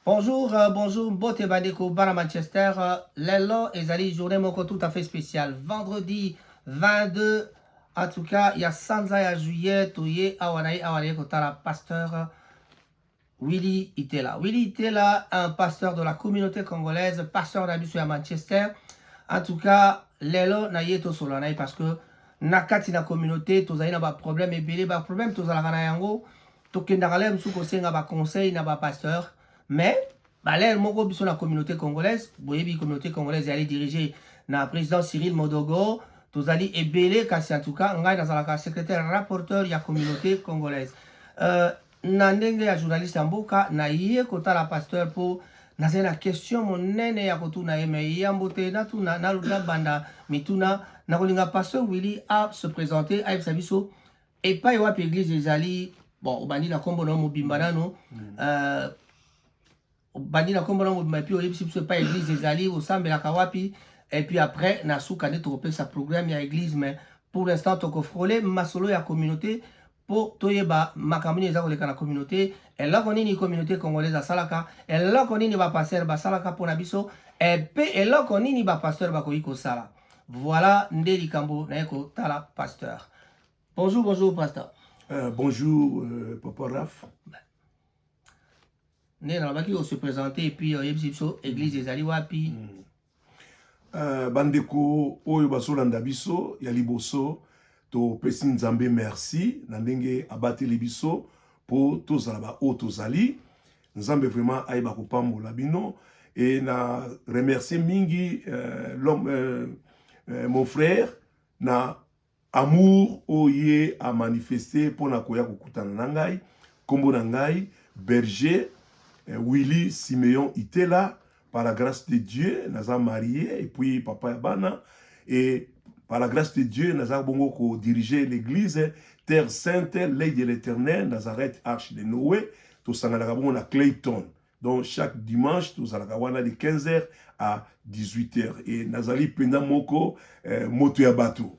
Bonjour, euh, bonjour, mbote bandeko bana Manchester. Euh, lelo ezali journée moko tout à fait spéciale. Vendredi 22, en tout cas, il y a sanza ya juillet, toye awa na ye awa na ye kotala pasteur euh, Willy Itela. Willy Itela, un pasteur de la communauté congolaise, pasteur na biso ya Manchester. En tout cas, lelo na ye tosolola na ye parce que na kati na communauté tozali na ba problème ebele ba problème tozalaka na yango tokendaka lere mosusu kosenga baconseil na bapasteur mais balere moko biso na communauté congolaise boyebi communauté congolaise yali dirige na président cyril modogo tozali ebele kasi en tout cas ngai nazalaka secrétaire rapporteur ya communauté congolaise euh, na ndenge ya journaliste ya mboka naye kotala pasteur mpo nazali na question monene ya kotuna ye mai yambo te natuna nabanda mituna nakolinga pasteur willy a se présente ayebisa biso Epai wapi eglise ezali bon obandi na kombo na mobimba mm. nano mm. euh, obandi na kombo na mobimba epuis oyebisi biso epai eglise ezali osambelaka wapi epuis après na suka nde tokopesa programme ya eglise mais pour l'instant tokofrole masolo ya communauté mpo toyeba makambo nini eza koleka na communauté eloko nini communauté congolaise asalaka eloko nini bapastere basalaka mpo na biso epe eloko nini bapastere bakoki kosala voilà nde likambo naye kotala pasteur Bonjour, bonjour, pasteur. Euh, bonjour, euh, Papa Raph. nde nalobaki ose présente epuis oyebisi euh, biso église mm. ezali wapi mm. euh, bandeko oyo bazolanda biso ya liboso topesi nzambe merci na ndenge abateli biso mpo tozala baoyo tozali nzambe vraiment ayeba kopambola bino e na remercie mingi euh, l'homme euh, euh, mon frère na Amour oyo ye a manifester pona koya kokutana na ngai, kombo na ngai Berger Willy Simeon Itela, par la grace de Dieu naza marie et puis papa ya bana et par la grace de Dieu naza bongo ko diriger l'eglise Terre Sainte L'Oeil de l'Eternel Nazareth Arche de Noe, tosanganaka bongo na Clayton donc chaque dimanche tozalaka wana de 15 heures à 18 heures et nazali mpenza moko eh, moto ya bato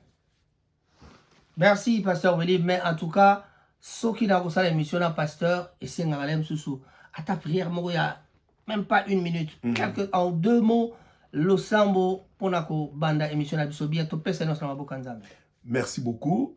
merci pasteur weli mais en tout cas soki nakosala émission na pasteur esengaka le mosusu ata prière moko ya même pas une minute mm -hmm. quelque en deux mots losambo mpona kobanda émission na biso bien topesa nyonso na maboka nzambe merci beaucoup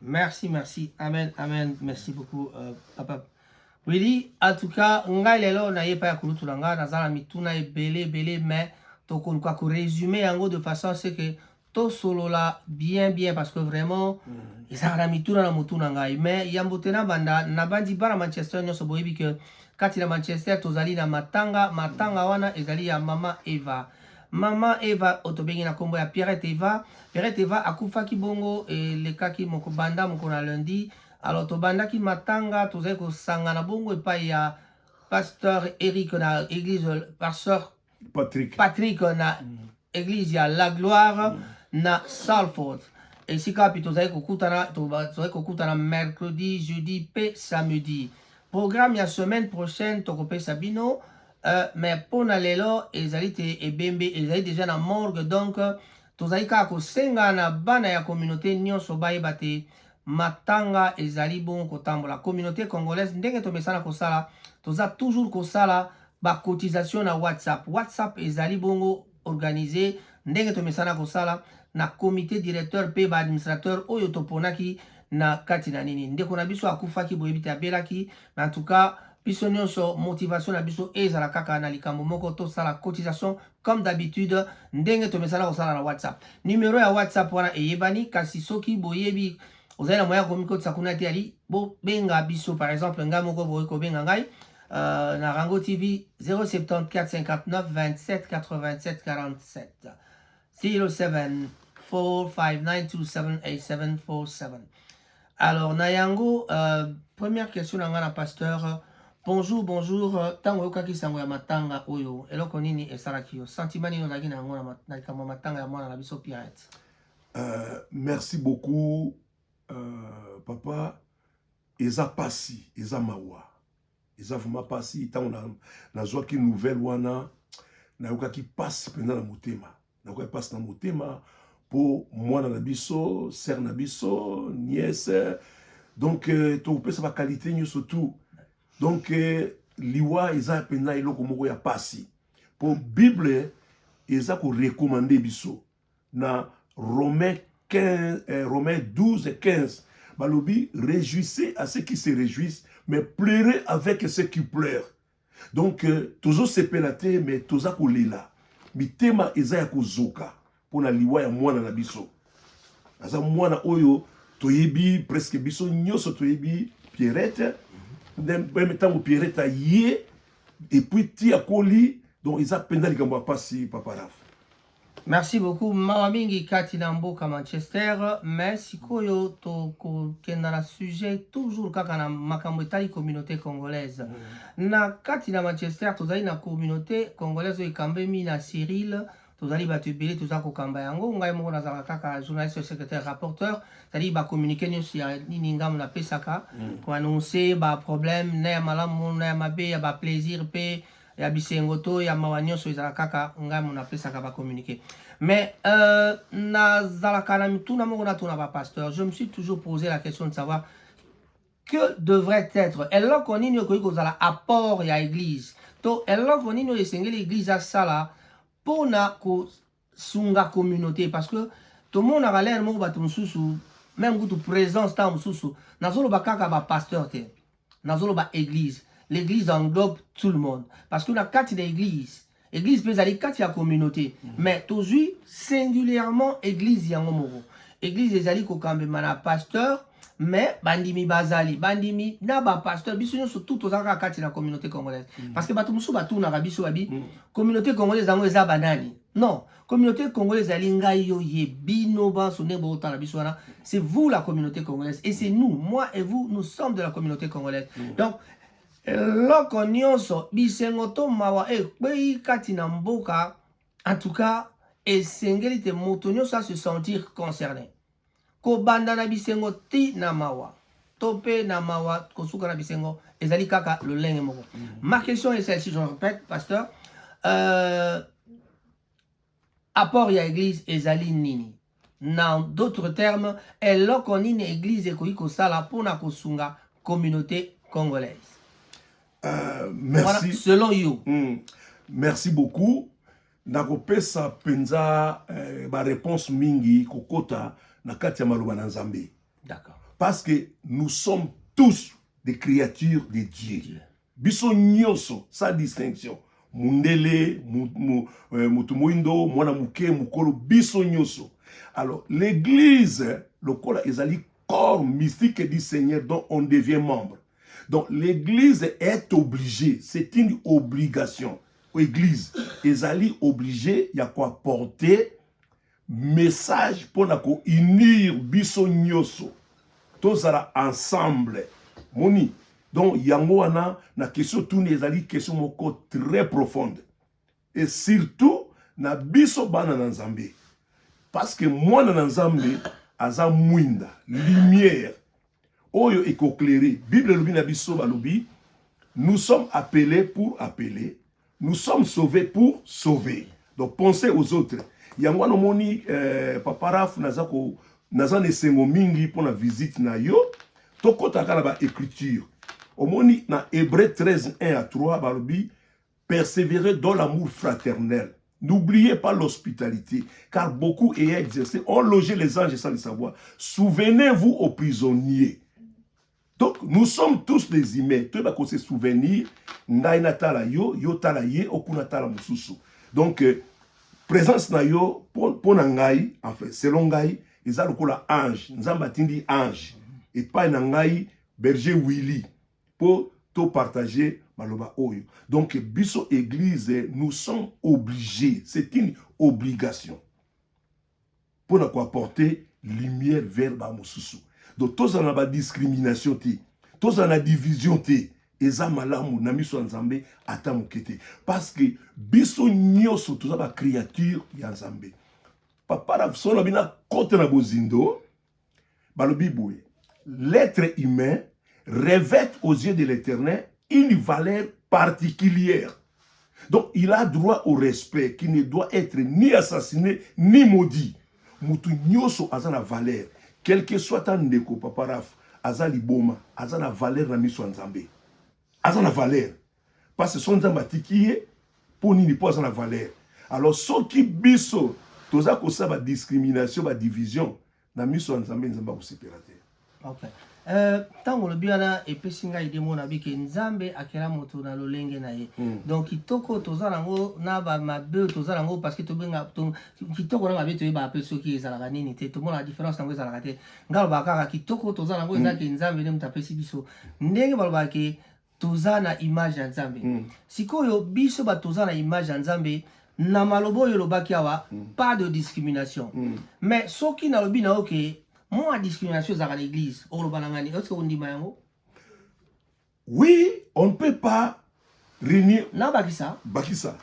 Merci, merci. Amen, amen. Merci beaucoup, euh, papa. Willy, en tout cas, ngai lelo na ye pa ya kulutu na ngai naza na mituna ebele ebele mais tokoluka ko résumer yango de façon à ce que tosolola bien bien parce que vraiment mm. ezalaka na mituna na motu na ngai mais yambo te nabanda nabandi bana manchester nyonso boyebi ke kati na manchester tozali na matanga matanga wana ezali ya mama eva Mama Eva otobengi na kombo ya Pierrette Eva. Pierrette Eva akufaki bongo elekaki moko banda moko na lundi. Alors tobandaki matanga tozali kosangana bongo epai ya pasteur Eric na église pasteur Patrick Patrick na mm. église ya La Gloire mm. na Salford. esika wapi tozali kokutana tozali kokutana mercredi jeudi mpe samedi programme ya semaine prochaine tokopesa bino Euh, mais mpo na lelo ezali te ebembe ezali deja na morgue donc tozali kaka kosenga na bana ya communauté nyonso bayeba te matanga ezali bongo kotambola communauté congolaise ndenge tomesana kosala toza toujours kosala bacotisation na whatsapp whatsapp ezali bongo organiser ndenge tomesana kosala na comité directeur mpe ba administrateur oyo toponaki na kati na nini ndeko na biso akufaki boyebi te abelaki mais en tout cas biso nyonso motivation na biso ezala kaka na likambo moko tosala cotisation comme d'habitude ndenge tomesana kosala na whatsapp numero ya whatsapp wana eyebani kasi soki boyebi ozali na moyen ya komikotisa kuna te ali bobenga biso par exemple ngai moko bokoki kobenga ngai Uh, na Rango TV 074 59 27 87 47 07 459278747 alors na yango uh, première question na ngai na pasteur bonjour bonjour ntango oyokaki sango ya matanga oyo eloko nini esalaki yo sentiment nini ozalaki na yango na likambo ya matanga ya mwana na biso pirate uh, merci beaucoup uh, papa Eza pasi, eza mawa. Eza vraiment pasi tango na nazwaki nouvelle wana nayokaki pasi mpenza na motema. Nayokaki pasi na motema mpo mwana na biso, sœur na biso, nièce donc euh, tokopesa ba qualité nyonso tout. Donc euh, liwa eza mpenza eloko moko ya pasi mpo Bible eza ko recommander biso na romain 15, eh, romain 12 15 balobi réjouissez à ceux qui se réjouissent mais pleurez avec ceux qui pleurent donc euh, tozosepela te mais toza kolela mitema eza ya kozoka mpo na liwa ya mwana na biso aza mwana oyo toyebi presque biso nyonso toyebi pierrette meme ntango pierrette aye epuis ti akoli donc eza mpenza likambo ya mpasi papa rafa Merci beaucoup mawa mingi kati na mboka Manchester mais sikoyo tokokenda na sujet toujours kaka na makambo etali communauté congolaise mm. na kati na Manchester tozali na communauté congolaise oyo ekambemi na Cyril tozali bato ebele toza kokamba yango ngai moko nazalaka kaka journaliste secrétaire rapporteur cetadi bacommunike nyonso ya nini ngambo napesaka mm. koannonce baproblème na ya malamu na ya mabe ya baplaisir mpe ya bisengo to ya mawa nyonso ezala kaka ngai mona apesaka ba communiqué mais euh, nazalaka na mituna moko natuna ba pasteur je me suis toujours posé la question de savoir que devrait être eloko nini okoki kozala apport ya église to eloko nini oyo esengeli église asala mpona ko sunga communauté parce que tomonaka lere moko bato mosusu meme kutu présence ntango mosusu nazoloba kaka bapasteur te nazoloba église l'église englobe tout le monde parce que na kati na église église mpe ezali kati ya communauté mm. mais tozwi singulièrement église yango moko église ezali kokambema na pasteur mais bandimi bazali bandimi na bapasteur biso nyonso tout toza kaka kati na communauté congolaise mm. parce que bato mosusu batunaka biso babi mm. communauté congolaise yango eza banani non communauté congolaise ezali ngai yo ye bino banso nde bootala biso wana c'est vous la communauté congolaise et c'est nous moi et vous nous sommes de la communauté congolaise mm. donc eloko nyonso bisengo to mawa ekwei kati na mboka en tout cas esengeli te moto nyonso a se sentir concerné Kobanda na bisengo ti na mawa to mpe na mawa kosuka na bisengo ezali kaka lolenge moko. Mm. Ma question est celle-ci, je répète, pasteur. Euh, apport ya église ezali nini? Na d'autres termes, eloko nini église ekoki kosala mpo na kosunga communauté congolaise? Euh, merci. Voilà, selon you. Mm. Merci beaucoup. Nakopesa mpenza eh, bareponse mingi kokota na kati ya maloba na Nzambe. D'accord. Parce que nous sommes tous des créatures de Dieu. Dieu. Biso nyonso sans distinction. Mundele, euh, mutu moindo, mwana moke, mukolo, biso nyonso. Alors l'église lokola ezali corps mystique du Seigneur dont on devient membre. Donc l'église est obligée, c'est une obligation. Église, ezali obligée ya ko apporter message pour na ko unir biso nyoso. Tozala ensemble. Moni. Donc yango wana na question tuni ezali question moko très profonde. et surtout na biso bana na nzambe parce que mwana na nzambe aza mwinda lumière oyo ekoclaire bible elobi na biso balobi nous sommes appelés pour appeler nous sommes sauvés pour sauver donc pensez aux autres yango wana omoni euh, papa raf naza ko naza na esengo mingi mpo na visite na yo tokɔtaka na baécriture omoni na hébreu 13 1 à 3 balobi Perseverer dans l'amour fraternel. N'oubliez pas l'hospitalité, car beaucoup ayant exercé ont logé les anges sans le savoir. Souvenez-vous aux prisonniers. Donc, nous sommes tous des humains. Tout le se souvenir. Ngai na tala yo, yo tala ye, okuna tala mususu. Donc, euh, présence na yo, pour na ngai, enfin, selon ngai, eza lokola ange. Nzamba tindi ange. Et pas na ngai, berger Willy. po to partager maloba oyo donc biso eglise nous sommes obligés c'est une obligation mpo na koapporter lumière vers bamosusu donc tozala na badiscrimination te tozala na division te eza malamu na miso ya nzambe ata moke te parce que biso nyonso toza bacréature ya nzambe papa na biso na bino akota na bozindo balobi boye l'être humain revêt aux yeux de l'éternel une valeur particulière donc il a droit au respect qui ne doit être ni assassiné ni maudit mutu nyonso aza na valeur quelque soit ta ndeko papa raf aza liboma aza na valeur na miso ya nzambe aza na valeur parce que son nzambe atiki ye mpo nini mpo aza na valeur alors soki biso toza kosala badiscrimination badivision na miso ya nzambe nzambe akosepela te okay. Euh, ntango uh, olobi wana epesi ngai ide mona bike nzambe akela moto na lolenge na ye mm. donc kitoko toza nango na bamabe toza nango parce que tobenga to, kitoko na mabe toyebaka mpe soki ezalaka nini te tomonaka différence yango ezalaka te ngai alobaka kaka kitoko toza nango eza hmm. ke nzambe nde moto apesi biso ndenge balobaka ke toza na image ya nzambe mm. sikoyo biso bato toza na image ya nzambe na maloba oyo olobaki awa mm. pas de discrimination mm. mais soki nalobi na yo ke mwa discrimination ezalaka na église okoloba na ngani oske ondima yango oui on ne peut pas réunir na bakisa bakisa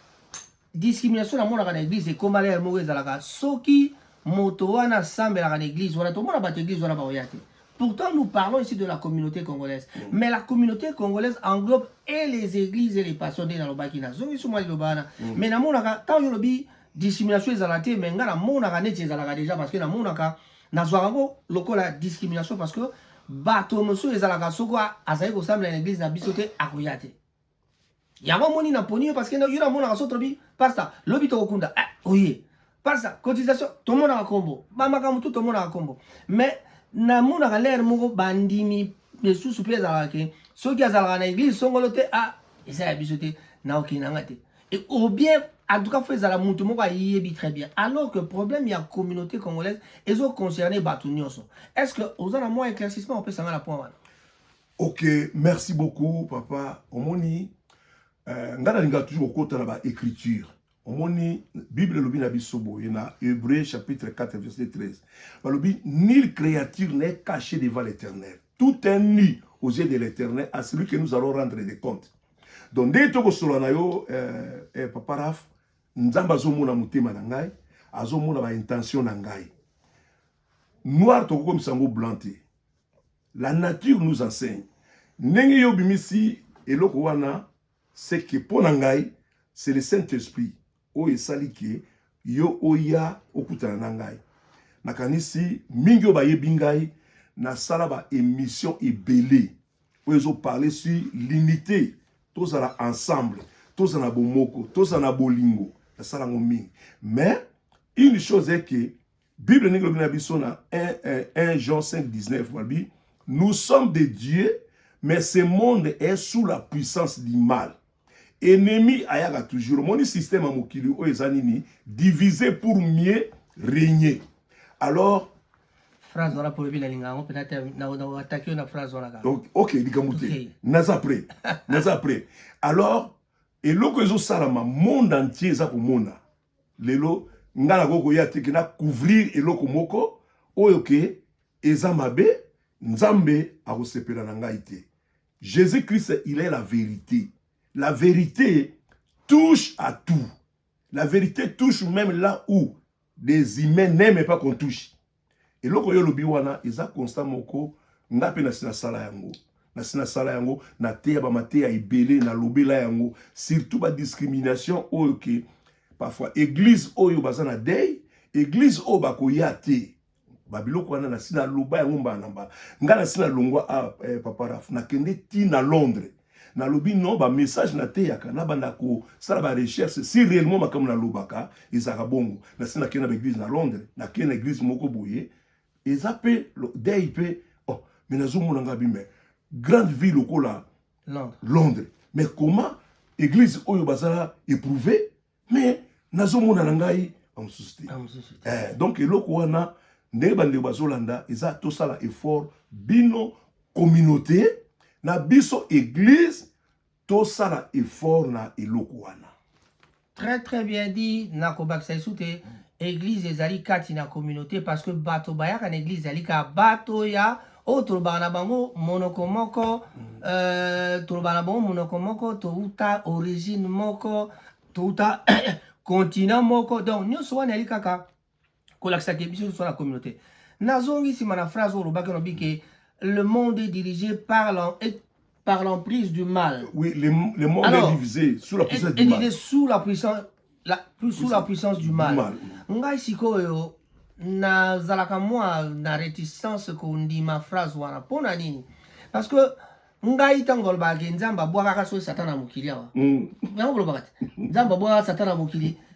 Discrimination na monaka na eglise ekoma lere moko ezalaka soki moto wana asambelaka na eglise wana tomona bato eglise wana baoya te Pourtant, nous parlons ici de la communauté congolaise. Mm. Mais la communauté congolaise englobe et les églises et les pasteurs de Nalobaki. Nazongi sous moi Lobana. Mm. Mais na monaka, tant yo lobi, dissimulation ezalate, mais nga na monaka neti ezalaka déjà parce que na monaka, na zwarango, loko la discrimination parce que bato mosusu ezalaka soko azali kosambela na église na biso te akoya te yango omoni na poni yo parce que yo namonaka so tolobi pasta lobi tokokunda eh, oye pasta cotisation tomonaka kombo bamakambo tu tomonaka kombo mais namonaka lere moko bandimi lisusu mpe ezalaka ke soki azalaka na eglise songolo te a ah, eza ya biso te naokei na nga te au bien en tout cas fo ezala motu moko ayebi très bien alors que problème ya communauté congolaise ezoconcerne bato nyonso est ce que oza na mwa éclaircissement opesa nga na point wana Ok, merci beaucoup papa. Omoni euh, nga nalingaka toujours kokota na ba écriture omoni bible elobi na biso boye na hébreu chapitre 4 verset 13 balobi nil créature n'est caché devant l'éternel tout est nu aux yeux de l'éternel à celui que nous allons rendre des comptes donc ndenge tokosolola na yo euh, euh, papa raf nzambe azomona motema na ngai azomona baintention na ngai noir tokokomisa yango blanc te La nature nous enseigne. Ndenge yo bimisi eloko wana c'est que mpo na ngai c'est le Saint-Esprit oyo esali ke yo oya okutana na ngai. Nakanisi mingi oyo bayebi ngai nasala ba émission ebele oyo ezoparle sur l'unité tozala ensemble tozala na bomoko tozala na bolingo nasala yango mingi mais une chose eke Bible ndenge elobi na biso na 1 Jean 5:19 balobi nous sommes de Dieu mais ce monde est sous la puissance du mal. Ennemi ayaka toujours omoni système ya mokili oyo eza nini diviser pour mieux régner alors phrase wana mpo lobi nalinga yango mpenza te ataki yo na phrase wana kaka ok likambo te naza prêt naza prêt alors eloko ezosalama monde entier eza komona lelo nga nakoki koya te ke na couvrir eloko moko oyo ke eza mabe nzambe akosepela na ngai te jésus christ il est la vérité la vérité touche à tout la vérité touche même là où des humains n'aiment pas qu'on touche Eloko yo olobi wana eza constat moko nga pe nasi nasala yango nasi nasala yango nateya bamateya ebele nalobela yango surtout ba discrimination oyo ke parfois eglise oyo baza na dei eglise oyo bakoya te babiloko wana nasi naloba yango mbala na mbala nga nasi nalongwa a ah, eh, papa raf nakende ti na londres nalobi non ba message nateyaka nabanda kosala ba recherche si réellement makambo nalobaka ezalaka bongo nasi nakei na baeglise na londres nakei na eglise moko boye eza mpe dei mpe oh, me nazomona ngai bi mais grande vie lokola londres mais comment église oyo bazala éprouvé mais nazomona na ngai bamosusu te eh, donc eloko wana ndenge bandeko bazolanda eza tosala effort bino communauté na biso église tosala effort na eloko wana très très bien dit nakobakisa lisusu te église ezali kati na communauté parce que bato bayaka na église ezali kaka bato ya oyo tolobaka na bango monoko moko euh, tolobaka na bango monoko moko touta origine moko touta continent moko donc nyonso wana yali kaka kolakisa ke biso toza na communauté nazongi nsima na phrase oyo olobaki olobi ke le monde est dirigé par par l'emprise du mal. Oui, le, le monde Alors, est divisé sous la puissance du mal. Sous la puissance, la, sous la puissance du mal. mal. Ngai sikoyo nazalaka mwa na réticence kondima phrase wana mpo na nini parce que ngai ntango balobaka ke nzambe abwakaka soki satan na mokili awa mm. yango kolobaka te nzambe abwakaka satan na mokili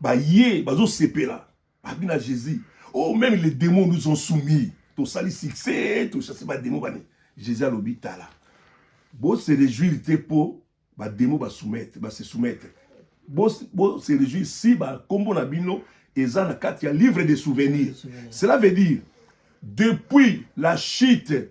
baye bazosepela babi na jésus oh meme les démons nous ont soumis tosali succès tochasse bademo bani jésus alobi tala bose réjouir te mpo bademo basoumettre base soumettre bose réjouir si bakombo na bino eza na kati ya livre de souvenir cela veut dire depuis la chute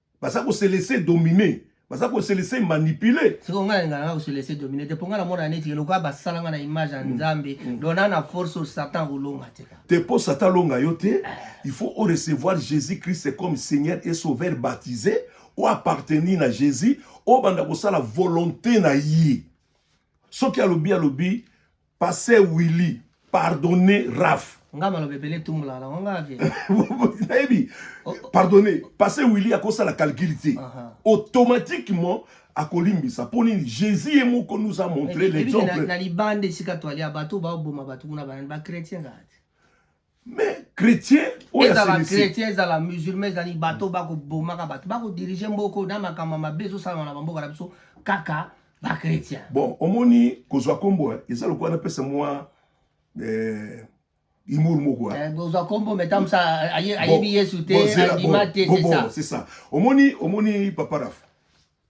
baza ko se laisser dominer baza ko se laisser manipuler siko ngai ngai ngai ko se laisser dominer te ponga na mona neti ke lokola basala ngai na image ya mm. nzambe mm. donc na na force au satan kolonga te ka te po satan longa yo te eh. il faut au recevoir Jésus Christ comme Seigneur et Sauveur baptisé ou appartenir na Jésus au banda kosala volonté na ye soki alobi alobi Passe Willy pardonner Raph. Nga maloba ebele tumbola na nga vie. Nayebi. Oh, oh. Pardonner. Passe Willy akosala calcul te. Automatiquement akolimbisa mpo nini jésus ye moko nous a montré l'exemple na libanda esika twali ya bato baoboma bato kuna bachrétien kaka te mais chrétien oyo ezala asilisi chrétien ezala musulman ezali bato bakobomaka bato bakodirige mboka oyo na makambo ya mabe ezosalama na bamboka na biso kaka bachrétien bon omoni kozwa nkombo eh, eza lokola napesa mwa eh, humour moko eh. kozwa nkombo metamusa aye- ayebi yesu te Bon, zela, andima bon, te bon, c'est bon, ça c'est ça omoni omoni papa raf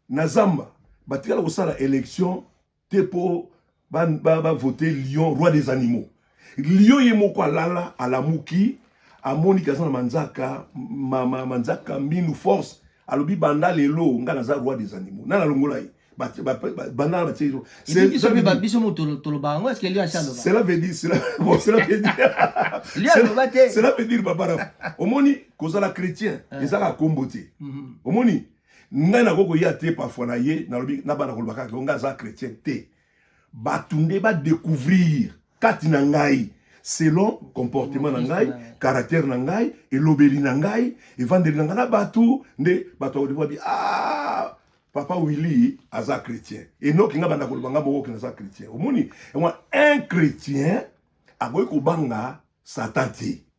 na zamba batikala kosala élection te po ba ba, ba voter lion roi des animaux lion ye moko alala alamuki amoni kaza na manzaka ma, ma, manzaka minu force alobi banda lelo nga naza roi des animaux nana longola ye banda na titre biso moto toloba yango eske lio asaloba cela veut dire cela bon cela veut dire lio aloba te cela veut dire babara omoni kozala chrétien ezaka kombo te omoni ngai nakoki koya te parfois na ye nalobi na bana koloba kaka ngai aza chrétien te bato nde badecouvrir kati na ngai selon comportement na ngai caractère na ngai elobeli na ngai evandeli na ngai na bato nde bato bakodebabi a ah, papa willy aza chrétien enoki ngai banda koloba ngai moko kina aza chrétien omoni yango un chrétien akoki kobanga satan te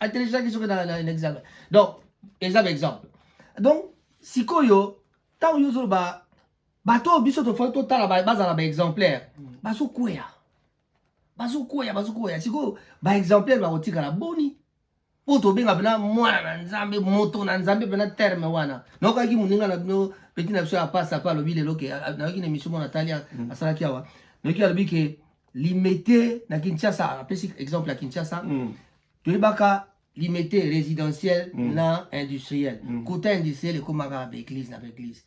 atelekisaki soki na, na, na examen donc eza ba exemple donc sikoyo ntango yo ozoloba bato oyo biso tofai totala bazala baexemplaire mm. bazokweya bazokweya bazokweya sikoyo baexemplaire bakotikala boni mpo tobenga mpena mwana na nzambe moto na nzambe mpena terme wana naokaki moninga na bino peti na biso ya pasa mpe alobi lelo ke nayoki na emission mwana atali mm. asalaki awa noki alobi ke Limete na Kinshasa, apesi exemple ya Kinshasa. Mm. Toyebaka limete résidentiel mm. na industriel. Mm. Kota industriel ekomaka ba église na ba église.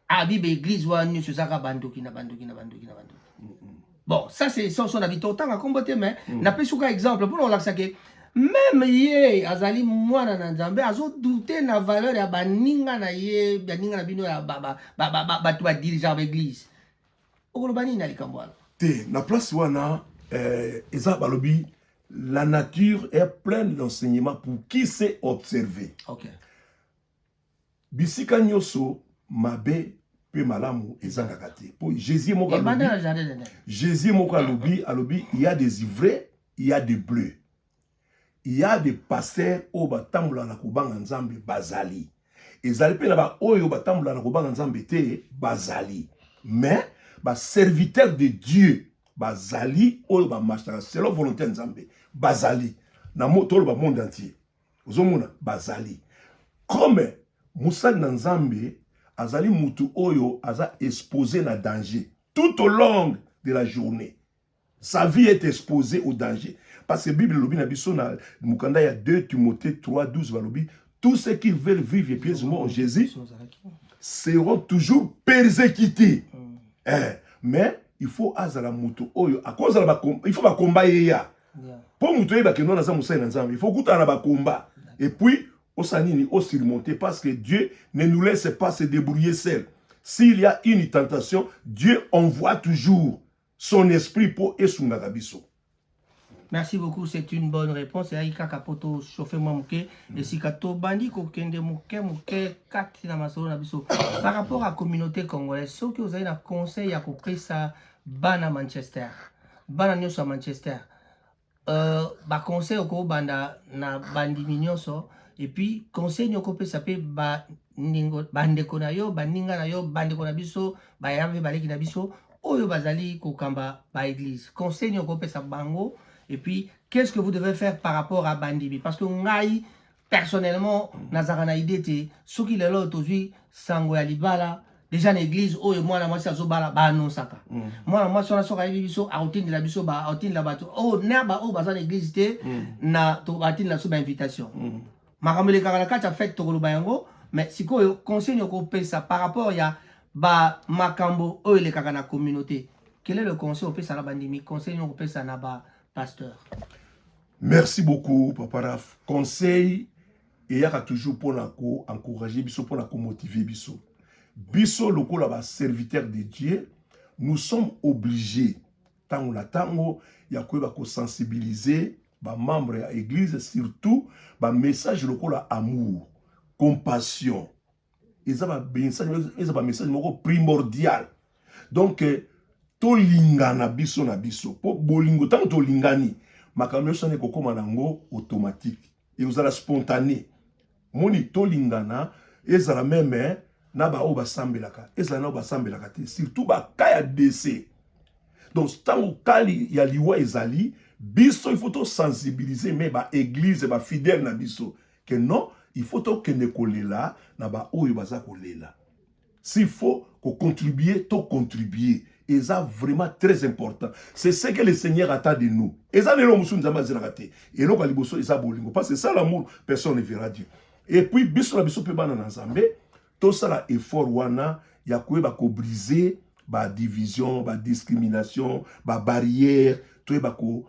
Abi ba église wana nyonso ezaka bandoki na bandoki na bandoki na bandoki. Mm -mm. Bon, ça c'est sans son avis totanga kombo te mais mm. na pesi ka exemple pour on lakisa ke meme ye azali mwana na nzambe azodoute na valeur ya baninga na ye baninga na bino ya bato badirigeaka baeglise okoloba nini na likambo wana te na place wana eh, eza balobi la nature est pleine d'enseignement pour qui sait observer okay. bisika nyonso mabe mpe malamu ezangaka te mpo jésus moko alobi jésus moko alobi alobi il y a des ivraies il y a des bleus Il ya de pasteur oyo batambola na kobanga nzambe bazali ezali mpe na baoyo batambola na kobanga nzambe te bazali mais baserviteur de dieu bazali oyo bamarchaka selon volonté ya nzambe bazali na toloba monde entier ozomona bazali comme mosali na nzambe azali mutu oyo aza expose na danger tout au long de la journée Sa vie est exposee au danger parce que bible elobi na biso na mokanda ya 2 Timothee 3 12 balobi tous ceux qui veulent vivre et pieusement en Jésus seront toujours persécutés mm. eh, mais il faut azala moto oyo akozala il faut bakomba ye ya mpo moto oyebake nwana aza mosali na nzambe il faut okutana na bakomba et puis osala nini osurmonte parce que dieu ne nous laisse pas se débrouiller seul s'il y a une tentation dieu envoie toujours son esprit po esungaka biso Merci beaucoup, c'est une bonne réponse. Yaki kaka po to chauffer mwa moke mm. esika tobandi kokende moke moke kati na masolo na biso par rapport à communauté congolaise soki ozali na conseil ya kopesa bana Manchester bana nyonso ya Manchester Euh, ba conseil okobanda na bandimi nyonso epuis conseil nini okopesa mpe bandingo bandeko na yo baninga na yo bandeko na biso bayaya mpe baleki na biso oyo bazali kokamba baeglise conseil nini okopesa bango epuis qu'est ce que vous devez faire par rapport à bandimi parce que ngai Personnellement, nazaka na idée te soki lelo tozui sango ya libala deja na église oyo mwana mwasi azobala baanonsaka mm. mwana mwasi wana soki ayebi biso akotindela biso akotindela bato oyo oh, na baoyo baza na église te mm. na batindela biso bainvitation mm. makambo elekaka na kati ya fete tokoloba yango mais sikoyo conseil nini okopesa par rapport ya bamakambo oyo elekaka na communauté quel est le conseil opesa na bandimi conseil nini okopesa na bapasteur Merci beaucoup papa Raf. Conseil eyaka toujours pona ko encourager biso pona ko motiver biso. Biso lokola ba serviteurs de Dieu, nous sommes obligés tango na tango ya koyeba ko sensibiliser ba membres ya église surtout ba messages lokola amour, compassion, eza ba message eza ba message moko primordial donc euh, tolingana biso na biso mpo bolingo ntango tolingani makambo nyonso wana ekokóma na yango automatique ekozala spontane moni tolingana ezala meme eh, na baoyo basambelaka ezala na oyo basambelaka te surtout baka ya dese donc ntango kali ya liwa ezali biso il faut tosensibilize me baeglize bafidèle na biso que non il faut tokende kolela na baoyo baza kolela s'il faut kocontribue tocontribue eza vraiment très important c'est ce que le seigneur attend de nous eza na eloko mosusu nzambe azelaka te eloko ya liboso eza bolingo parce que sans l'amour personne ne verra dieu et puis biso na biso mpe bana na nzambe tosala effort wana ya koyeba kobrise badivision badiscrimination babarrière toyeba ko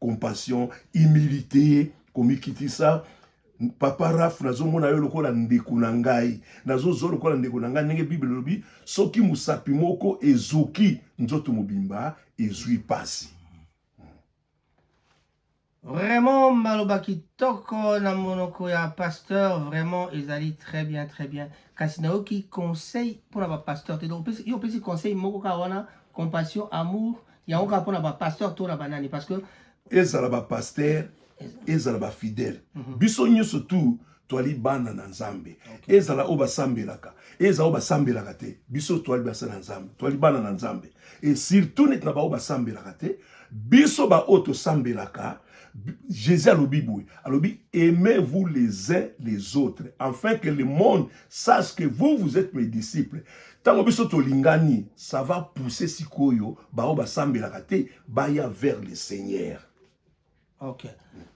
compassion humilité komikitisa papa raf nazomona yo lokola ndeko na ngai nazozwa lokola ndeko na ngai ndenge bible elobi soki mosapi moko ezoki nzoto mobimba ezwi mpasi vraiment maloba kitoko na monoko ya pasteur vraiment ezali très bien très bien kasi nayoki conseil mpona bapasteur te donc yo opesi conseil moko kaka wana compassion amour yango kaka mpo na bapasteur to na banani parce que ezala bapasteur ezala bafidèle mhm. biso nyonso tu toali bana na nzambe ezala oyo basambelaka ezala oyo basambelaka te biso toali basa na nzambe toali bana na nzambe e surtout neti na baoyo basambelaka te biso baoyo tosambelaka Jésus alobi boye alobi aimez-vous les uns les autres afin que le monde sache que vous vous êtes mes disciples ntango biso tolingani ça va pousser sikoyo baoyo basambelaka te baya vers le seigneur ok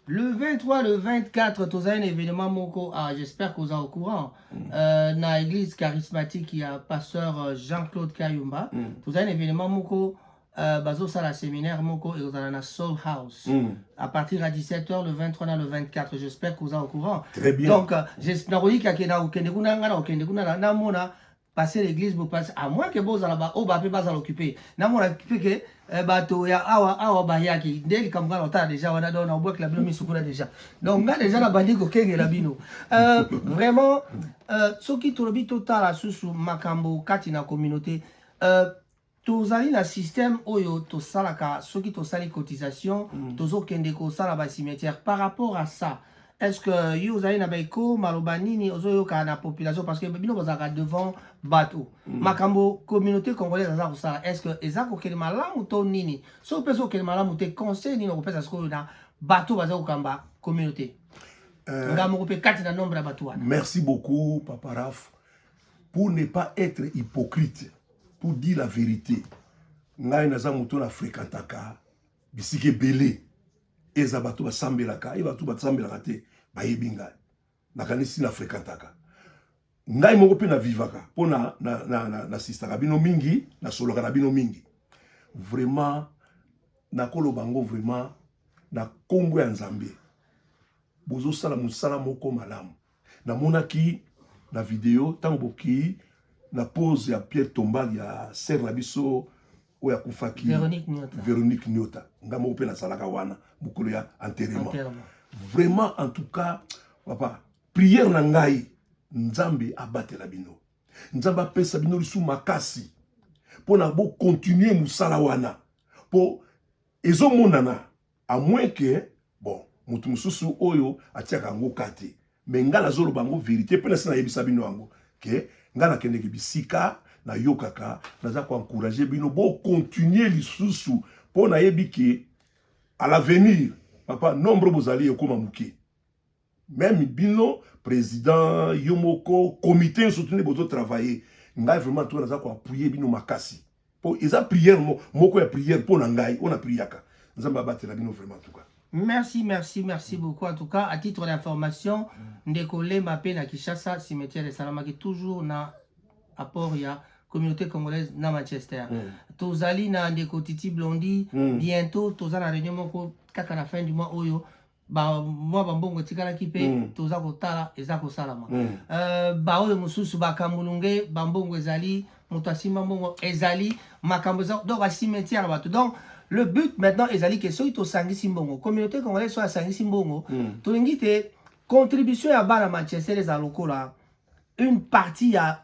le 23 le 24 tozali na événement moko ah, j'espère que oza au courant mm. euh, na église charismatique ya pasteur euh, jean claude kayumba mm. tozali na événement moko Euh, bazosala séminaire moko ekozala na soul house mm. à partir ya 17 heures le 23 na le 24 j'espère que oza au courant Très bien. donc euh, nakoyika ke nakokende kuna ngai nakokende kuna namona passer l'église bopase à moins que bozala baoyo bape bazala occupe namona mpe ke euh, bato ya awa awa bayaki nde likambo ngai naotala déjà wana donc naobwakela bino misu kuna déjà donc ngai déjà nabandi kokengela bino euh, vraiment euh, soki tolobi totala susu makambo kati na communauté euh, Tozali na système oyo tosalaka soki tosali cotisation mm. tozokende kosala ba cimetière par rapport à ça est ce que yo ozali na baeko maloba nini ozoyoka na population parce que bino bozalaka devant bato mm. makambo communauté congolaise aza kosala est ce que eza kokende malamu to nini soki mpe ezokende malamu te conseil nini okopesa sikoyo na bato baza kokamba communauté euh, nga moko mpe kati na nombre ya bato wana merci beaucoup papa raf pour ne pas être hypocrite pour dire la verite ngai naza moto na fréquentaka bisika ebele eza bato basambelaka ye bato basambelaka te bayebi ngai nakanisi na fréquentaka ngai moko mpe navivaka mpo nasistaka na, na, na bino mingi nasolaka na bino mingi vraiment nakoloba yango vraiment na nkombo ya nzambe bozosala mosala moko malamu namonaki na video ntango bokei na pose ya pierre tombal ya sere na biso oyo akufaki veronique niota nga moko mpe nazalaka wana mokolo ya enterrement vraiment en tout cas papa prière na ngai nzambe abatela bino nzambe apesa bino lisu makasi mpo na bokontinue mosala wana mpo ezomonana à moins que bon moto mosusu oyo atiaka yango ka te me ngai nazoloba yango verité mpe nasi nayebisa bino yango ke ngai nakendeke bisika nayokaka naza koencourage bino bokontinue lisusu mpo nayebi ke à l'avenir papa nombre bozali ekoma moke Meme bino president yo moko comité nso tuni bozo travailler ngai vraiment to naza ko appuyer bino makasi po eza prière mo, moko ya prière po na ngai ona priaka nzambe abatela bino vraiment en tout cas Merci, merci, merci beaucoup. En tout cas, à titre d'information, Ndeko Lema pe na Kishasa, cimetière esalamaki toujours na apport ya communauté congolaise na Manchester. Mm. Tozali na Ndeko Titi Blondy, mm. bientôt toza na réunion moko kaka na fin du mois oyo ba mwa bambongo etikalaki mpe mm. toza kotala eza kosalama mm. uh, baoyo mosusu bakambulunge bambongo ezali moto asimba mbongo ezali makambo eza donc bacimetière ya bato donc le but maintenant ezali ke soki tosangisi mbongo communauté congolaise soki asangisi mbongo mm. tolingi te contribution ya bana manchester eza lokola une partie ya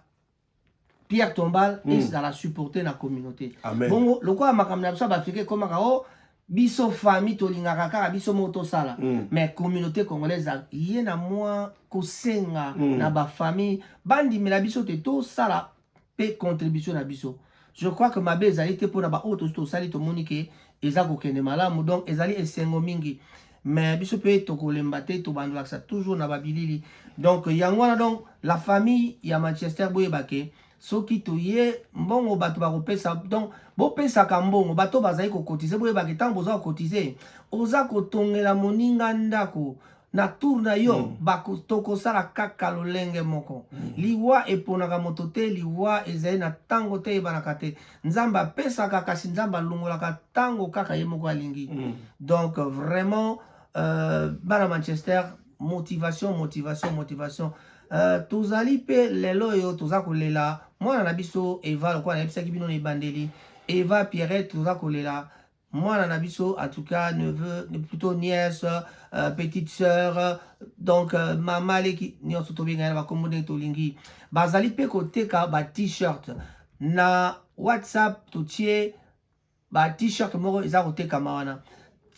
Pierre Tombal mm. ezala supporter na communauté. Amen. Bongo lokola makambo na biso bafika ekomaka o oh, biso famille tolingaka kaka biso moko tosala mm. mais communauté congolaise ye na mwa kosenga mm. na bafamille bandimela biso te tosala mpe contribution na biso je crois que mabe ezali te mpona baoyo tosi tosali tomoni ke eza kokende malamu donc ezali esengo mingi mais biso mpe tokolemba te tobandolakisa toujours na babilili donc yango wana donc la famille ya manchester boyeba ke soki toye mbongo bato bakopesa donc bopesaka mbongo bato bazali kokotize boyebaka ntango boza kokotize oza kotongela moninga ndako na tour na yo mm. bako tokosala kaka lolenge moko mm. liwa eponaka moto te liwa ezali na ntango te eyebanaka te nzambe apesaka kasi nzambe alongolaka ntango kaka ye moko alingi mm. donc vraiment euh, bana manchester motivation motivation motivation euh, tozali mpe lelo oyo toza kolela mwana na biso eva lokola nayebisaki bino na ebandeli eva pierrette toza kolela mwana na biso en tout cas neveu plutôt nièce euh, petite sœur euh, donc euh, mama leki nyonso tobenga na bakombo ndenge tolingi bazali mpe koteka ba t-shirt na whatsapp totie ba t-shirt moko eza kotekama wana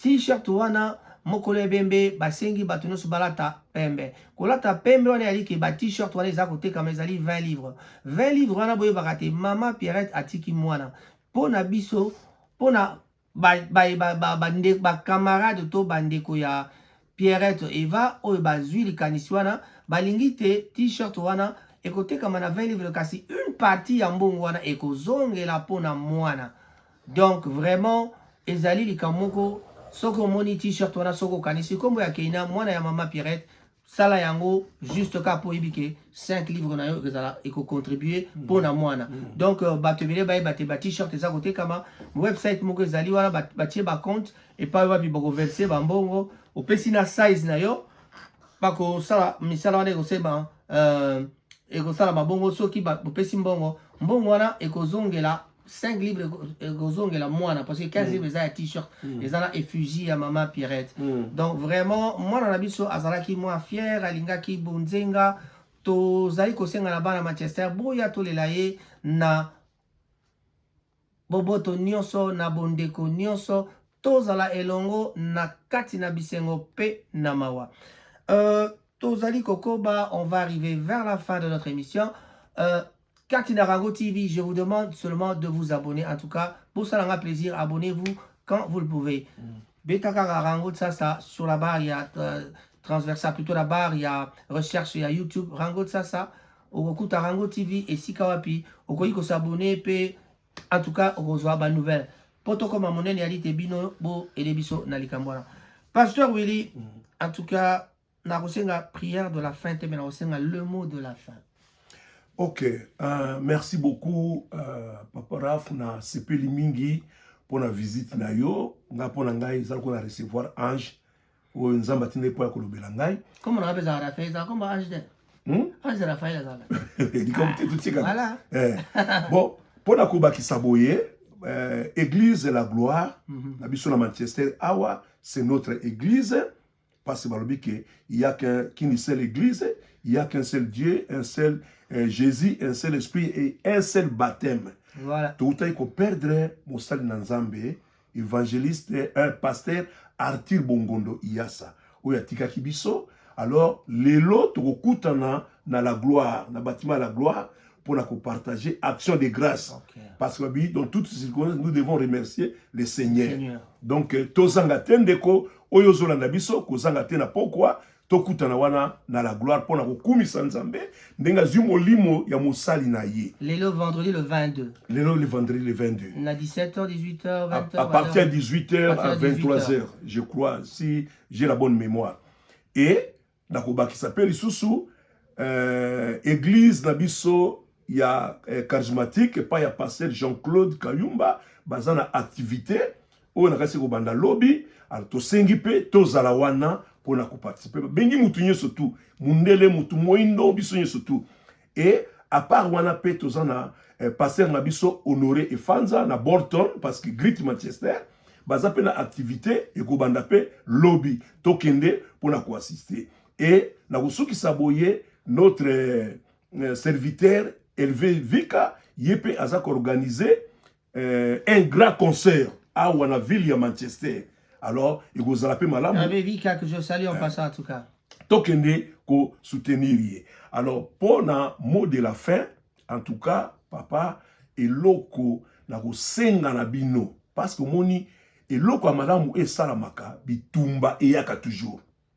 t-shirt wana mokolo ebembe basengi bato nyonso balata pembe kolata pembe wana ezali ke ba t-shirt wana eza kotekama ezali 20 livre 20 livre wana boyebaka te mama pierrette atiki mwana mpo na biso pona bacamarade to bandeko ya pierrette eva oyo bazwi likanisi wana balingi te t-shirt wana ekotekama na 20 livre kasi une partie ya mbongo wana ekozongela mpona mwana donc vraiment ezali likambo moko soki omoni t-shirt wana soki okanisi nkombo ya keina mwana ya mama pierrette sala yango juste kaka mpo oyebi ke 5 livre na yo ekozala ekocontribue mpo mm. na mwana mm. donc euh, bato ebele bayeba te batshirt eza kotekama website moko ezali wana batie bacompte epai wapi bakoverse bambongo opesi na size na yo bakosala misala wana ekosalema euh, ekosalama bongo soki bopesi mbongo mbongo wana ekozongela 5 libre ekozongela mwana parce que 15 libre eza ya t-shirt eza na effugie ya mama pirate donc vraiment mwana na biso azalaki mwa fiere alingaki bonzenga tozali kosenga na bana manchester boya tolela ye na Boboto nyonso na bondeko nyonso, tozala elongo na kati na bisengo pe na mawa. Euh, tozali kokoba, on va arriver vers la fin de notre émission. Euh, kati na Rango TV, je vous demande seulement de vous abonner. En tout cas, bosala nga plaisir, abonnez-vous quand vous le pouvez. Mm. Beta kaka Rango Tsasa sur la barre ya euh, transversale, plutôt la barre ya recherche ya YouTube Rango Tsasa. okokutaka yango tv esika wapi okoki kosabone mpe en tout cas okozwa ba nouvelle mpo tokoma monene ya lite bino boede biso na likambo wana pasteur willy mm. en tout cas nakosenga prière de la fin te me nakosenga le mot de la fin ok uh, merci beaucoup uh, papa raf na sepeli mingi mpo na visite na yo nga mpo na ngai eza lokola recevoir ange oyo nzambe atindaki mpo ya kolobela ngai kombo na ngai mpeza rafael ezala kombo ange te hmm? ange rafael azala likambo te totikala eh. bon mpo na kobakisa boye eh, église la gloire mhm. na biso na manchester awa c'est notre église parce que balobi ke il y a qu'une seule église il y a qu'un seul dieu un seul eh, jésus un seul esprit et un seul baptême voilà. toutaki koperdre mosali na nzambe evangeliste un pasteur arthur bongondo iyasa oyo atikaki biso alors lelo tokokutana na la gloire na bâtiment la gloire pour la partager action de grâce okay. parce que dans toutes ces circonstances nous devons remercier le seigneur, seigneur. donc euh, tozanga te ndeko oyo ozolanda biso kozanga te na pokwa tokutana wana na la gloire mpo na kokumisa nzambe ndenge azwi molimo ya mosali na ye lelo vendredi le 22 lelo le vendredi le 22 na 17h 18h 20h à, à partir ya 18h à 23h je crois si j'ai la bonne mémoire et nakobakisa mpe lisusu euh, église na biso ya euh, charismatique epai ya pasteur jean-claude kayumba baza na activité oyo na kasi kobanda lobi alors tosengi mpe tozala wana mpona koparticipe babengi motu nyonso tu mundele motu moindo biso nyonso tu e apart wana mpe toza na eh, paster na biso honore efanza na bolton parce que grit manchester baza mpe na activité ekobanda mpe lobi tokende mpona koassiste e na kosukisa boye notre eh, serviteur elve vika ye mpe aza koorganize euh, un grand concert awa na ville ya manchester alors ekozala mpe malamu euh, tokende kosoutenir ye alors mpo na mot de la fin en tout cas papa eloko na kosenga na bino parce que omoni eloko ya malamu esalamaka bitumba eyaka toujours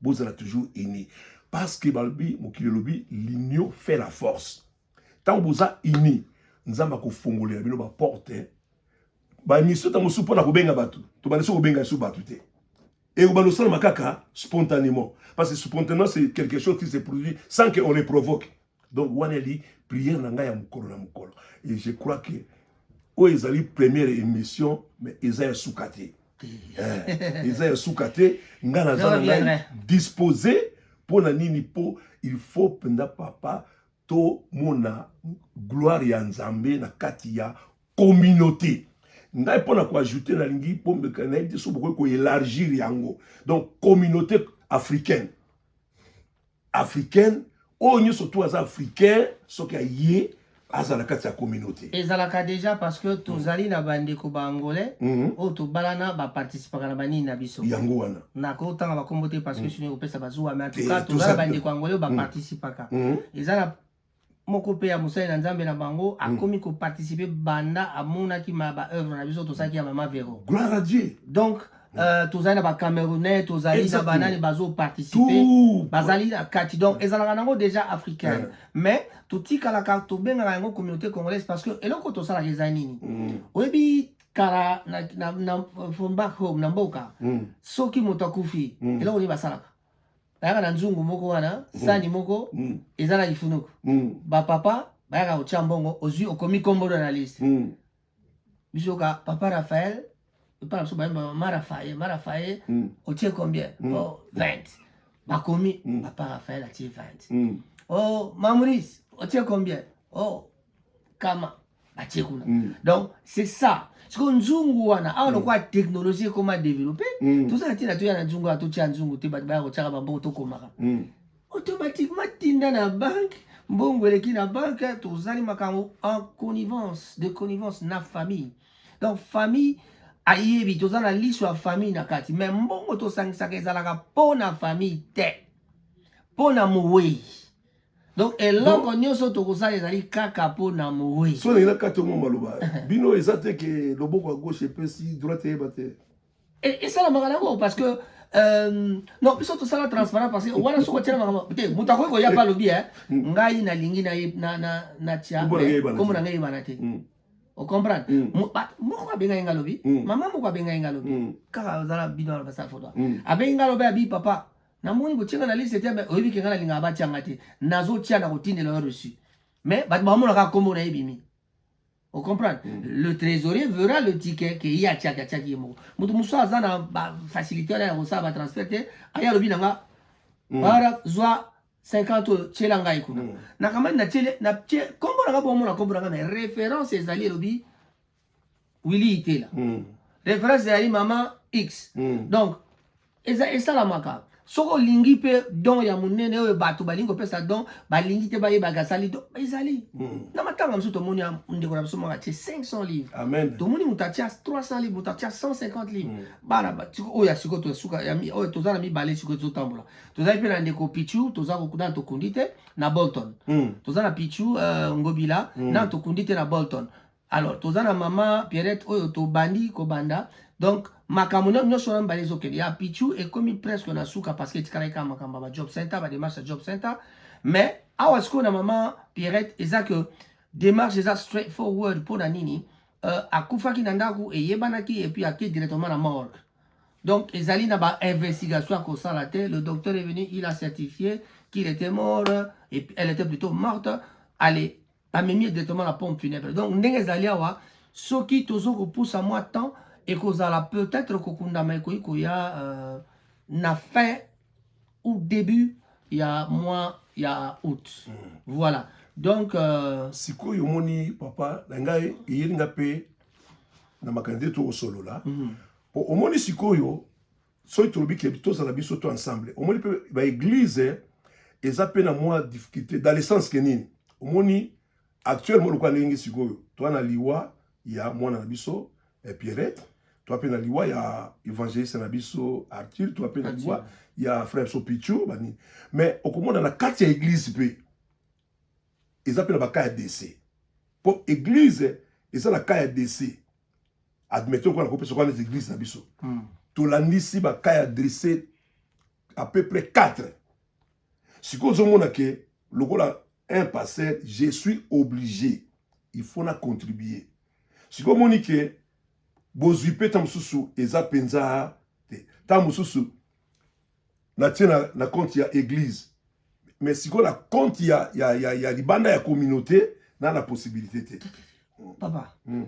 bozala toujours uni parce que balobi mokili elobi l'union fait la force ntango boza uni nzambe akofongolela bino baporte baemission ntango mosusu mpo na kobenga bato tobandisi kobenga biso bato te ekobanda osalama kaka spontanément parce que spontanément c'est quelque chose qui se produit sans que on le provoque donc wana eli prière na ngai ya mokolo na mokolo et je crois que oyo ezali première émission mais eza ya suka te eh, eza ya suka te ngai naza na ngai dispose mpo na nini mpo il faut mpenza papa tomona gloire ya nzambe na kati ya communauté ngai mpo na koajoute nalingi mpo nayebi te so bokoki koelargir yango donc communauté africaine africaine oyo nyonso tu aza africain soki aye aza na kati ya communauté ezalaka déjà parce que tozali mm. na bandeko ba angolais mm -hmm. oyo tobalana baparticipaka na banini na biso yango wana nakotanga bakombo te parce que mm. sino ekopesa bazuwa mais en tout cas tozala bandeko angolais oyo baparticipaka mm. mm. eza na moko mpe ya mosali na nzambe na bango mm. akomi ko participer banda amonaki ma ba œuvre na biso tosalaki ya mama vero gloire à dieu donc mm. euh, tozali na bacamerounais tozali na banani bazoparticipe bazali na kati donc mm. ezalaka nango déjà africaine mais totikalaka tobengaka yango communauté congolaise parce que eloko tosalaka eza nini oyebi kala na, na, na, from back home na mboka soki moto akufi eloko nini basalaka bayaka na nzungu moko wana mm. sani moko mm. eza na lifunuku mm. bapapa bayaka kotya mbongo ozwi okomi kombolo na liste mm. biso ka papa raphael epa na biso bayemba mama rafaye ma rafaye mm. otie combien mm. o oh, 20 bakomi mm. papa raphael atie 20 mm. o oh, mamoris otie combien o oh, kama batie kuna mm. donc c'est ça sikoyo nzungu wana awa mm. lokola technologie ekoma développe mm. toza na ntina toya na nzungu wana totia nzungu te bato baya kotyaka bambongo tokomaka mm. automatiquement tinda na banke mbongo eleki na banke tozali makambo en connivence de connivence na famille donc famille ayebi toza na liso ya famille na kati me mbongo tosangisaka ezalaka mpo na famille te mpo na mowei donc eloko nyonso tokosala ezali kaka mpo na moweyi so ndenge nakati omwa maloba bino eza te ke loboko ya gauche epesi droite eyeba te e, esalamaka nango parce que Euh, non biso tosala transparent parce que wana soki otyela makambo te moto akoki koya mpe alobi eh, mm. ngai nalingi natya kombo na ngai eyebana te mm. ocomprendre mm. moko abengai ngai alobi mama moko abengai ngai alobi kaka ozala bino alobasa foto abengi ngai alobi abi papa namoni botiaka na liste te mais oyebi ke ngai nalingaka batia ngai te nazotia na kotindela yo reçu mais bato bamonaka nkombo na ye bimi ocomprendre mm. le trésorier verra le ticket ke ye atiaki atiaki ye moko moto mosusu aza na bafacilité wana ya kosala batransfert te aye alobi na nga mm. para zwa 50 oyo tiela ngai kuna mm. nakamani natiele natie nkombo na nga bomona nkombo na nga mais référence ezali elobi Willy Itela mm. reference ezali mama X mm. donc eza esalamaka soki olingi mpe don ya monene oyo bato balingi kopesa don balingi te bayebaka asali don ezali mm. na matanga mosusu tomoni ndeko na biso moko atie 500 livre Amen. tomoni moto atia 300 livre moto atia 150 livre mm. bana oyo ya sikoyo tosuka oyo toza na mibale sikoyo tozotambola tozali mpe na ndeko pichu toza kokuna tokundi te na bolton mm. toza na pichu uh, ngobila mm. na tokundi te na bolton alors toza na mama Pierrette oyo tobandi kobanda donc makambo nyonso wana mibale ezokende ya pichu ekomi presque na suka parce que etikalaki kaka makambo ya bajob center bademarche ya job center mais awa sikoyo na mama Pierrette eza que démarche eza straight forward mpo na nini uh, akufaki na ndako eyebanaki epuis ake directement na morgue donc ezali na bainvestigation ya kosala te le docteur est venu il a certifié qu'il était mort et elle était plutôt morte allez bamemi ye directement na pompe funèbre donc ndenge ezali awa soki tozo kopusa mwa temps ekozala peut-être kokundama ekoki koya euh, na fin ou début ya mois ya août mm. voilà donc euh... sikoyo omoni papa na ngai eyeli nga mpe na makanisi te tokosolola mpo mm. omoni sikoyo soki tolobi ke tozala biso to ensemble omoni mpe baeglize eza mpe na mwa difficulté dans le sens ke nini omoni actuellement lokola ndenge sikoyo toa na liwa ya mwana na biso eh, pierrette toa mpe na liwa ya evangeliste na biso arthur toa mpe na liwa ya frère sopichu bani mais okomona na kati ya eglize mpe eza mpe na ba cas ya dese mpo eglise eza na cas ya dese admettons mpo na kopesa kwa neti eglise na biso hmm. tolandisi ba cas ya dese à peu près 4 sikoyo ozomona ke lokola un pasteur je suis obligé il faut na contribuer sikoyo omoni ke bozwi mpe ntango mosusu eza mpenza te ntango mosusu na tie na, na compte ya église mais sikoyo na compte ya, ya, ya, ya libanda ya communauté na na possibilité te papa mm.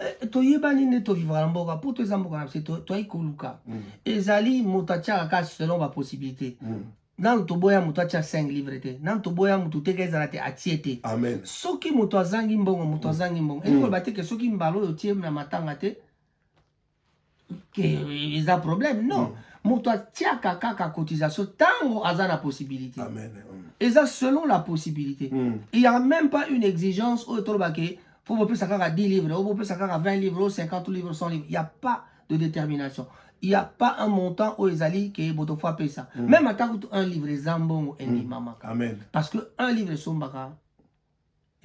Eh, toyebani nde tovivaka na mboka mpo toeza mboka na biso toyaki koluka mm. ezali moto atiaka kaka selon bapossibilité mm. nanu toboya moto atya 5 livre te nanu toboya moto teka ezala te atie te amen soki moto azangi mbongo moto mm. azangi mbongo elingi mm. koloba te ke soki mbala oyo otie na matanga te eza problème non mm. moto atiaka kaka cotisation ntango aza na possibilité Amen. Mm. eza selon la possibilité mm. il y a même pas une exigence oyo toloba ke fo bopesa kaka 10 livres o bopesa kaka 20 livres o 50 livres 100 livres il y a pas de détermination il y a pas un montant oyo ezali ke boto fo apesa mm. même ata kutu un livre eza mbongo endimamaka mm. parce que un livre esombaka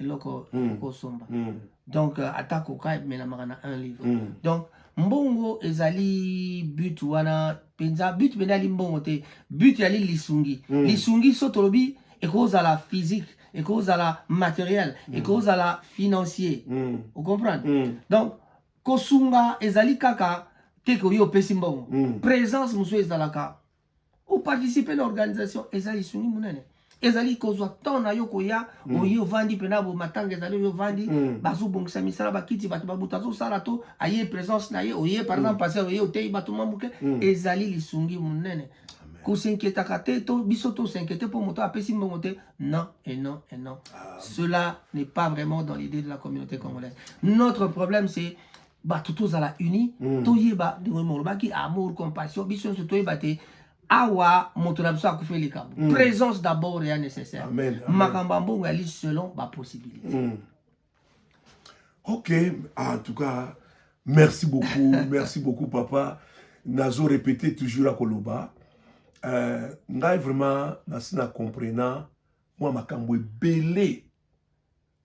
eloko mm. kosomba mm. donc euh, ata koka emelamaka na un livre mm. donc mbongo ezali but wana mpenza but mpenza ali mbongo te but yali lisungi mm. lisungi so tolobi ekozala physique ekozala matériel mm. ekozala financier mm. ocomprendre mm. donc kosunga ezali kaka te koyo opesi mbongo mm. présence mosusu ezalaka o participer na organisation eza lisungi munene ezali kozwa temps na yo koya mm. oye ovandi mpena bo matanga ezali oyo ovandi mm. bazobongisa misala bakiti bato babuta azosala to aye présence na ye oye par mm. exemple pase oye oteyi bato mwa moke mm. ezali lisungi monene kosinkietaka te to biso tosinkiete mpo moto apesi mbongo te non et non et non ah. cela n'est pas vraiment dans l'idée de la communauté congolaise notre problème c'est bato tozala uni mm. toyeba ndenge molobaki amour compassion biso nyonso toyeba te awa moto na biso akufi likambo mm. présence d'abord ya nécessaire makambo ya mbongo yali selon bapossibilité mm. ok en tout cas merci beaucoup merci beaucoup papa nazo répété toujours akoloba euh, ngai vraiment nasi na comprena mwa makambo ebele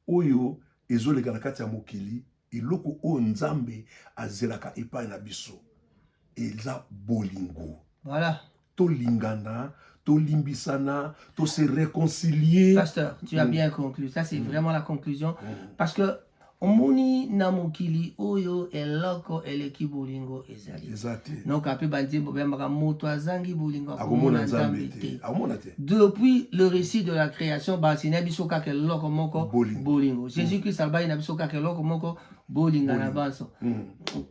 oyo ezoleka na kati ya mokili eloko oyo nzambe azelaka epai na biso eza bolingo voilà. tolingana tolimbisana to se réconcilier pasteur tu as mm. bien conclu ça c'est mm. vraiment la conclusion mm. parce que omoni na mokili oyo eloko eleki bolingo eza te donc ape banzembo bayambaka moto azangi bolingo akomona nzambe te akomona te depuis le récit de la création bansina biso kaka eloko moko bolingo mm. jésus christ alobaki na biso kaka eloko moko bolinga na banso mm.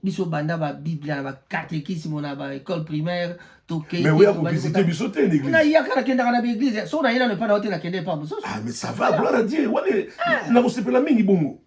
biso banda babiblia na bacatekisme na baécole primaire tokeiyaka biso te nayaka nakendaka na baeglise soki naye nano epa na yo te nakende epa mosusu ah, nakosepela mingi bongo